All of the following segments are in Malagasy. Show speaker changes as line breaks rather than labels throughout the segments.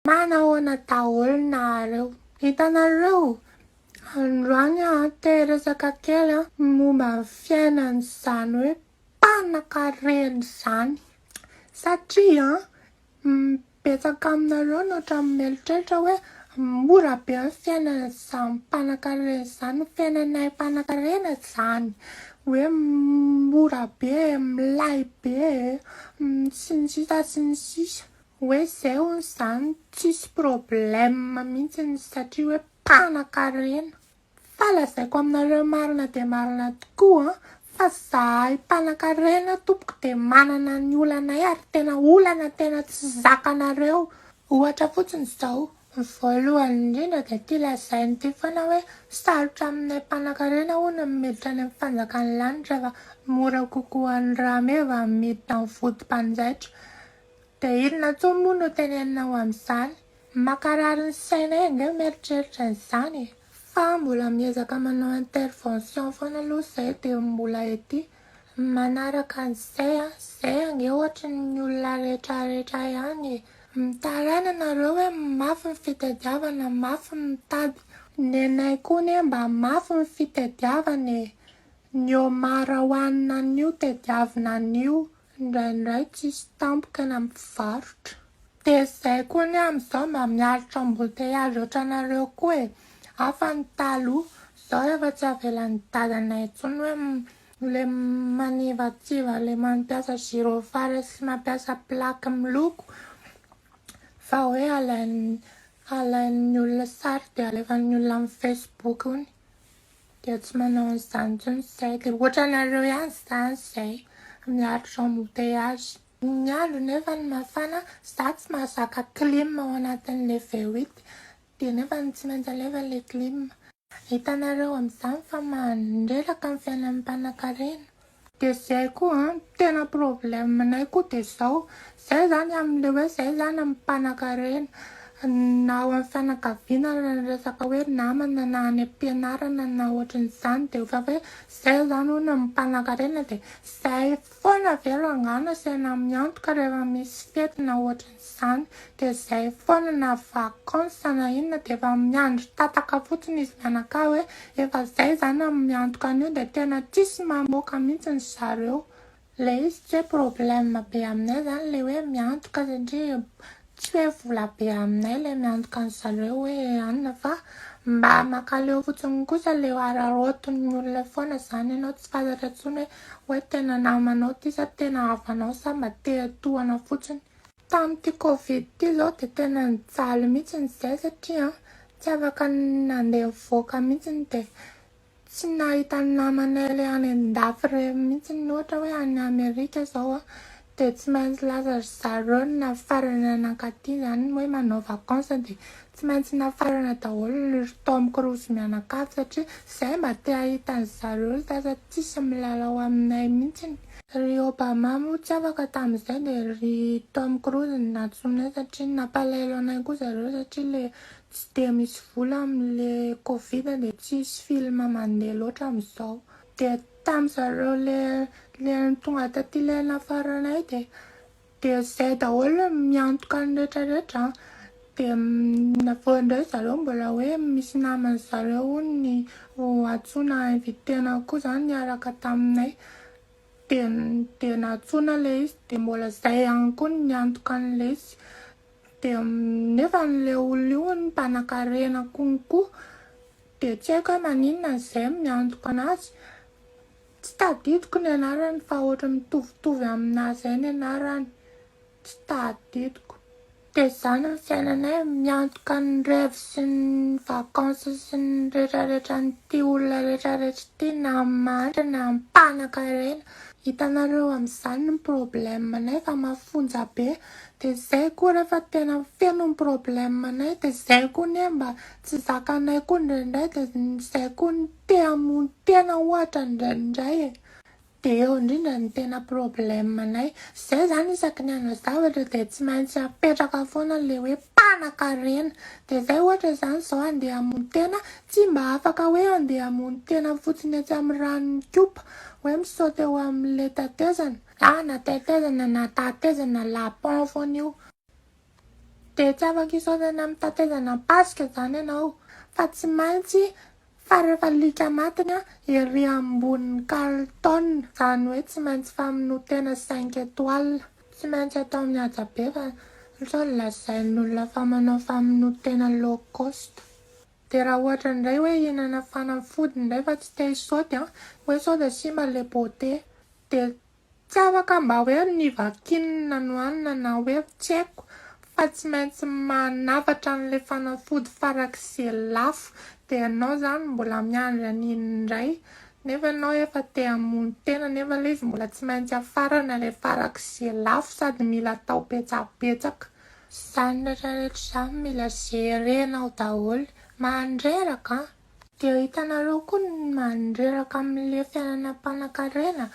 Manahoana daholo nareo. Hitanareo? Androany aho te-hiresaka kely momba ny fiainan'izany hoe mpanankarena izany. Satria betsaka aminareo no ohatran'ny mieritreritra hoe mora be ny fiainan'izany mpanankarena izany. Ny fiainanay mpanankarena izany hoe mora be, milay be e, sy ny sisa sy ny sisa. Hoe zay hono zany tsisy problème mintsiny satria hoe mpanakarena. Fa lazaiko aminareo marina dia marina tokoa fa zahay mpanakarena tompoko dia manana ny olanay ary tena olana tena tsy zakanareo. Ohatra fotsiny izao, ny voalohany indrindra dia ity lazainy ity foana hoe sarotra aminay mpanakarena hono ny miditra any amin'ny fanjakan'ny lanitra fa mora kokoa an'i rameva miditra amin'ny vodim-panjaitra. Dia inona intsony moa no teneninao amin'izany? Mankarary ny sainay ange mieritreritra an'izany e! Fa mbola miezaka manao intervention foana aloha izay dia mbola ety manaraka an'izay an! Izay ange ohatry ny olona retraretra ihany e! Mitaraina nareo hoe mafy ny fitadiavana, mafy ny mitady. Ny anay koa anie mba mafy ny fitadiavana e! Ny Omar hohanina anio tadiavina anio. Indraindray tsisy tampoka na mpivarotra. Dia zay koa ny amizao mba miaritra embouteillage otranareo koa e! Hafa ny taloha, zao efa tsy avelan'ny dadanay intsony hoe le manivatsiva le mampiasa gyrophare sy mampiasa plaque miloko fa hoe alain'ny alain'ny olona sary dia alefan'ny olona amin'ny facebook ony. Dia tsy manao an'izany intsony izay. Dia ohatranareo ihany izany izay miaritra embouteillage. Ny andro nefa no mafana, za tsy mahazaka clim ao anatin'ilay V huit dia nefa tsy maintsy alefa ilay clim. Hitanareo amin'izany fa mandreraka ny fiainan'ny mpanankarena. Dia zay koa an, tena problème nay koa dia zao, zay zany amin'le hoe zay zany amin'ny mpanakarena, na ao amin'ny fianakaviana ary ny resaka hoe namana na any am-pianarana na ohatrin'izany dia efa hoe zay zany hono amin'ny mpanakarena dia zay foana ve rangah no asaina miantoka rehefa misy fety na ohatrin'izany. izany dia izay foana na vacance na inona dia efa miandry tataka fotsiny izy mianakavy hoe efa izay izany amin'ny miantoka an'io dia tena tsisy mamoaka mihitsy ny zareo. Ilay izy tsy hoe problème be aminay izany ilay hoe miantoka satria tsy hoe vola be aminay ilay miantoka ny zareo hoe anona fa mba makaleo fotsiny kosa ilay hararaotin'ny olona foana izany ianao tsy fantatra intsony hoe Hoe tena namanao ty sa tena havanao sa mba te hatohana fotsiny. Tamin'ity covid ity izao dia tena nijaly mihitsy izahay satria tsy afaka nandeha nivoaka mihitsy dia tsy nahita ny namanay ilay any an-dafy ireny mihitsy ohatra hoe any Amerika izao Dia tsy maintsy lasa ry zareo ny nafarana nankaty izany hoe manao vacance dia tsy maintsy nafarana daholo ny ry Tom Cruise mianakavy satria izay mba te hahita an'i zareo ry sasa tsisy milalao aminay mintsiny. Ry Obama moa tsy afaka tamin'izay dia ry Tom Cruise no nantsoinay satria nampalahelo anay koa zareo satria ilay tsy dia misy vola amin'ilay covid dia tsisy film mandeha loatra amin'izao. Dia tam zareo le le tonga taty le nafaranay de de zay daholo miantoka ny rehetra rehetra an, de aveo ndray zareo mbola hoe misy namany zareo hono ny ho antsoina invitena koa zany niaraka taminay de de nantsoina le izy de mbola zay ihany koa ny niantoka anle izy de nefa anle olona io hono mpanakarena konko Dia tsy haiko hoe maninona izay miantoka anazy, tsy tadidiko ny anarany fa ohatry mitovitovy aminà izay ny anarany, tsy tadidiko. Dia izany ny fiainanay, miantoka ny rêve sy ny vacances sy ny retraretran'ity olona retraretra ity na amin'ny mahantra na amin'ny mpanankarena. Hitanareo amin'izany ny problème-nay fa mafonja be, dia izay koa rehefa tena feno ny problème-nay dia izay koa anie mba Tsy zakanay koa indraindray dia izay koa ny te hamono tena ohatra indraindray e! dia eo indrindra ny tena problème nay, izay izany isaky ny hanao zavatra dia tsy maintsy apetraka foana ilay hoe mpanakarena, dia izay ohatra izany izao handeha hamono tena tsy mba afaka hoe handeha hamono tena fotsiny etsy amin'ny ranon'ny kopa hoe mi-saute eo amin'ilay tetezana, na tetezana na tatezana la pont foana io, Dia tsy afa-kisaona ny amin'ny tatezana am-pasika izany ianao, fa tsy maintsy fa rehefa lika matiny ery ambonin'ny kalitona, izany hoe tsy maintsy famonoan-tena cinq étoiles, tsy maintsy atao mihaja be fa sao dia lazain'olona fa manao famonoan-tena low cost. Dia raha ohatra indray hoe hihinana fanafody indray fa tsy te-hisaoty an, hoe sao dia simba ilay beauté, dia. Tsy afaka mba hoe nivakininy nanohanina na hoe tsy haiko fa tsy maintsy manafatra an'ilay fanafody farak'izay lafo dia ianao izany mbola miandry an'iny indray nefa ianao efa te hamono tena nefa ilay izy mbola tsy maintsy afarana ilay farak'izay lafo sady mila atao betsabetsaka izany rehetra rehetra izany mila jerenao daholo mandreraka an! Dia hitanareo koa ny mandreraka amin'ilay fiainana mpanankarena,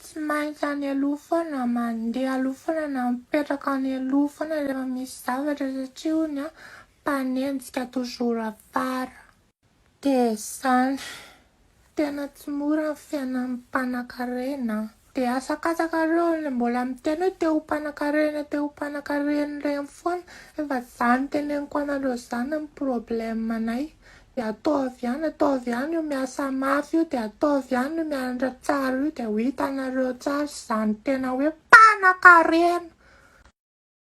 tsy maintsy any aloha foana, mandeha aloha foana na mipetraka any aloha foana rehefa misy zavatra satria hono an, mpanenjika toujours afara. Dia izany. Tena tsy mora ny fiainan'ny mpanankarena an. Dia asakatsaka reo le mbola miteny hoe te ho mpanakarena te ho mpanakarena reny foana efa za niteneniko anareo zany ny problème nay dia ataovy ihany ataovy ihany io miasa mafy io dia ataovy ihany io mianatra tsara io dia ho hitanareo tsara izany tena hoe mpanakarena.